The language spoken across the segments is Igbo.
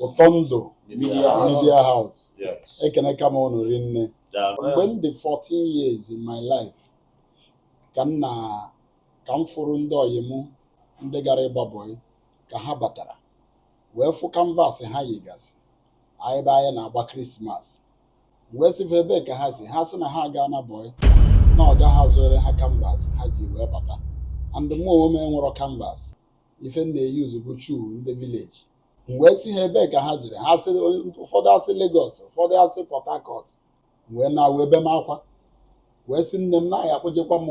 ụtọ ndụ media house ekenekwa m unu rinne mgbe m dị 14 years in my life ka m na ka m fụrụ ndị ọyị m ndị gara ịgba bọyị ka ha batara wee fụ kanvas ha yigasị ebe anyị na-agba krismas m wee sị fa ebee ka ha si ha sị na ha gaa na bọyị na ọga ha zụere ha kanvas ha ji wee bata and mụ onwe m enwerọ kanvas ife m na-eyizi bụ shuu ndị vileji m wee sị ha ebee ka ha jere ha sịrị ụfọdụ asị Legọs ụfọdụ asị Pọt Hakọt wee na wee be m akwa wee sị nne m na ya kpọjekwa m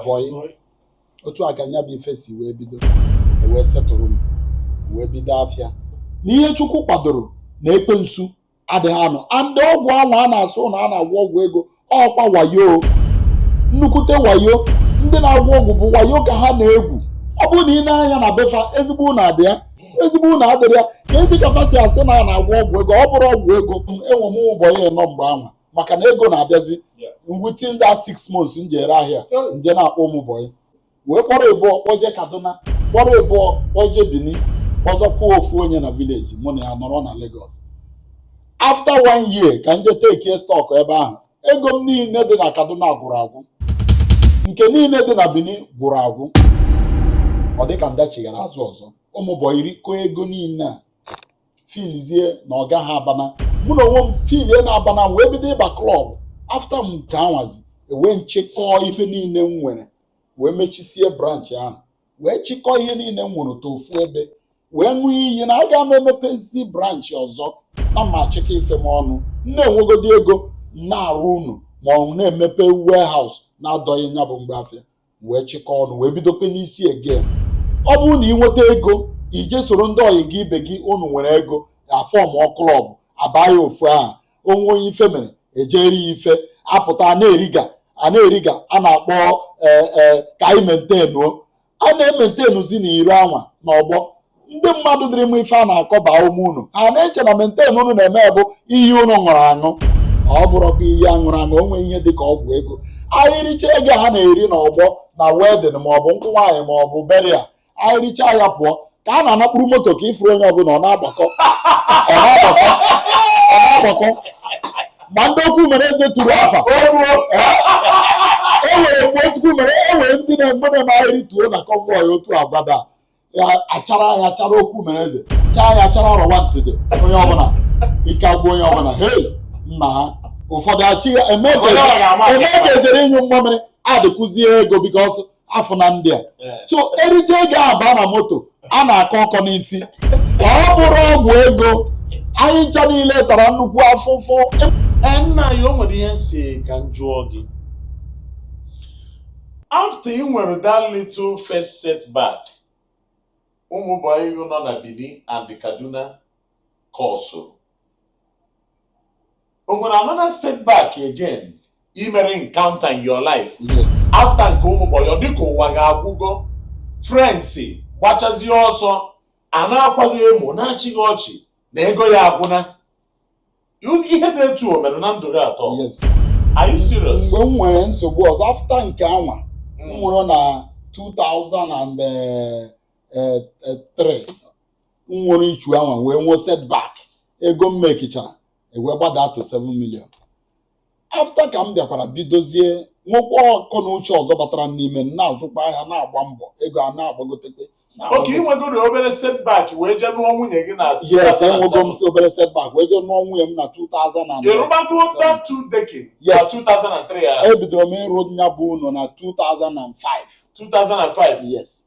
bọyị otu a ka nya bụ ife si wee bido e wee setụrụ m wee bido afịa na ihe Chukwu kwadoro na ekwensu adịghị anọ and ọgwụ ahụ a na-asị na a na-agwọ ọgwụ ego ọkwa wayo nnukwute wayo ndị na-agwọ ọgwụ bụ wayo ka ha na-egwu ọ bụrụ na i nee anya na be fa ezigbo ụnọ adị ya ezigbo ụnọ adịrọ ya keezi ka fa si asị na a na-agwọ ọgwụ ego ọ bụrụ ọgwụ ego enwe m ụmụ bọyị ịnọ mgbe anwa maka na ego na-abịazi within that six months m ji ere ahịa m je na-akpọ ụmụ bọyị wee kpọrọ ịbụọ kpọje kaduna kpọrọ ịbụọ kpọje benin kpọzọkwuo ofu onye na vileji mụ na ya nọrọ na Lagos afta one year ka m je tekie stọk ebe ahụ ego m niile dị na kaduna gwụrụ agwụ nke niile dị na benin gwụrụ agwụ ọ dịka m dachighara azụ ọzọ ụmụ bọyị rikọọ ego niile a filizie na ọga ha abana mụnwa onwe m filie na m abana wee bido ịba klọb afta nke anwazi e wee m chịkọọ ife niile m nwere wee mechisie branchị ahụ wee chịkọọ ihe niile m nwere tọọ ofu ebe wee ṅụọ iyi na aga m emepezi branchị ọzọ na ma achịkọ ife m ọnụ m na-enwegodi ego na-arụ ụnọ ma ọ na-emepe warehouse na-adọghị nya bụ mgbe afịa wee chịkọọ ọnụ wee bidokwa n'isi again ọ bụrụ na ị nweta ego i je soro ndị ọyị gị ibe gị unu nwere ego afọmọ klọb abaa ya ofu aha o nwee onye ife mere e je rie ya ife apụta a na-eriga a na-eriga a na-akpọ ee ee ka anyị mentenuo a na-ementenuzi na iro anwa na ọgbọ ndị mmadụ dịrị mma ife a na-akọ baa ume unu ha na-eche na menten unu na-eme bụ iyi unu ṅụrụ aṅụ ọ bụrụkwa iyi a ṅụrụ aṅụ o nweghị ihe dịka ọgwụ ego anyị richa ego ha na-eri na ọgbọ na wedin maọbụ nkwụ nwaanyị maọbụ beria anyị richaa ya pụọ ka a na-ana kpụrụ moto ka ị fụrụ onye ọbụla ọ na-agbakọ ọ na-agbakọ ọ na-agbakọ ma ndị okwu mere eze tụrụ afa e nwere mgbe otukwu mere e nwere ndị na-egbe na anyị rituo na kọnvọị otu agbada ya achara ya chara okwu mere eze chaa ya chara ọrọwa ntịtị onye ọbụla ike agwụ onye ọbụla hei nna ha ụfọdụ achị ya eme ka ejere ịnyụ mmamịrị adịkwụzie ego bikos a fụ na ndị a eh. so erije ego aba na moto a na-akọ ọkọ n'isi ọ bụrụ ọgwụ ego anyị ncha niile tara nnukwu afụfụ eh, nna anyị o nwere ihe m si ka m jụọ gị after ị nwere that little first setback ụmụ bọyị nọ na Benin and Kaduna cause o nwere another setback again ị mere encounter in your life yes after nke ụmụ bọyị ọ dịka ụwa ga-agwụgo friends gbachazie ọsọ a na-akwa gị emo na-achị gị ọchị na ego ya agwụna You- ihe dị etu o mere na ndụ gị atọ yes are you serious mgbe m nwere nsogbu ọzọ after nke anwa m Mm. nwere na 2003 m nwere issue anwa wee nwee setback ego m mekichara ewee gbadaa to 7 million after ka m bịakwara bidozie nwekwa akọ na uche ọzọ batara n'ime m na-azụkwa ahịa na-agba mbọ ego a na-agbagotekwa okay ị nwegoro obere setback wee jee nụọ nwunye gị na yes enwego m obere setback wee jee nụọ nwunye m na 2000 ị rụbago that two decker na Yes. 2003 a ebidoro m ịrụ nya bụ ụnọ na 2005 2005 yes